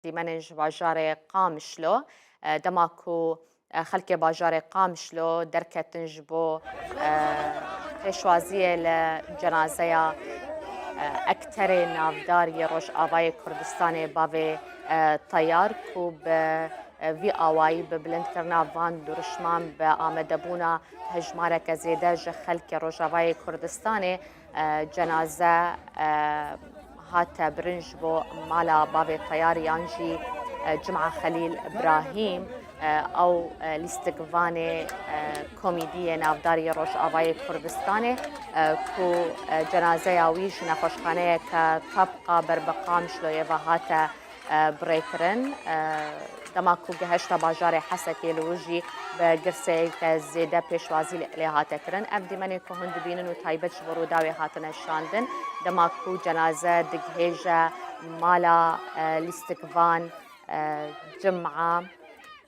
Dîmenên ji bajarê Qamişlo dema ku xelkê bajarê Qamişlo derketin ji bo pêşwaziyê li cenazeya ekterê navdar yê Rojavayê Kurdistanê bavê Tayar ku bi vî awayî bi bilindkirina van duruşman bi amedebûna hejmareke zêde ji xelkê Rojavayê Kurdistanê Cenaze hate birin ji bo mala bavê Teyar yan jî Cuma Xelîl Brahîm ew lîstik vanê komîdiyê navdar yê Rojavayê Kurdistanê ku cenazeya wî ji nexweşxaneyeke Tabqa Berbiqam ji Loyeva hate bi rê kirin. Dema ku gehişta bajarê Hesekê li wir jî bi girseyeke zêde pêşwazî lê hate kirin. Ev dîmenên ku hûn dibînin û taybet ji bo Rûdawê hatine şandin, dema ku cenaze digihêje mala lîstikvan cum'a.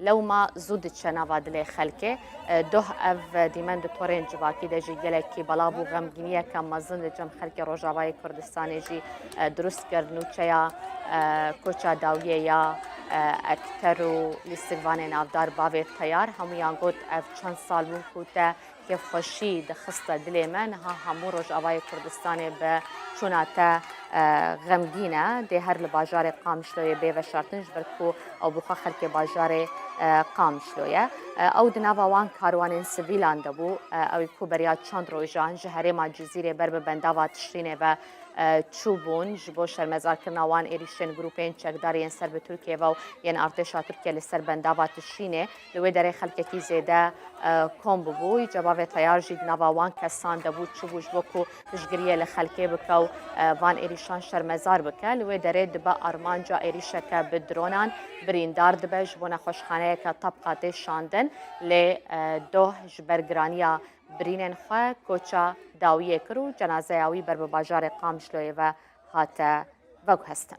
Lewma zû diçe nava dilê xelkê. Doh ev dîmen di torên civakî de jî gelekî belav û xemgîniyeke mezin di cem xelkê Rojavayê Kurdistanê jî dirust kir. Nûçeya Koça Dawiyê ya Ekter û Lîstikvanê navdar bavê teyar hemûyan got ev çend sal bû ku te kêfxweşî dixiste dilê me. Niha hemû Rojavayê Kurdistanê bi çûna te xemgîn e. Dê her li bajarê Qamişloyê bê veşartin ji ber ku ew bi xwe xelkê bajarê Qamişlo ye. Ew di nava wan karwanên sivîlan de bû. Ew ku beriya çend rojan ji herêma Cizîrê ber bi bendava Tişrînê ve çûbûn ji bo şermezarkirina wan êrîşên grûpên çekdar yên ser bi Tirkiyê ve û yên artêşa Tirkiye li ser bendava Tişrînê Li wê derê xelkekî zêde kom bûbû. Îca bavê teyar jî di nava wan kesan de bû çibû ji bo ku piştgiriyê li xelkê bike û van êrîşan şermezar bike. Li wê derê dibe armanca êrîşeke bi dronan birîndar dibe ji bo nexweşxaneyeke tabqa tê şandin. Lê doh ji ber giraniya birînên xwe koça dawiyê kir û cenazeya wî ber bi bajarê Qamşloyê ve hate veguhestin.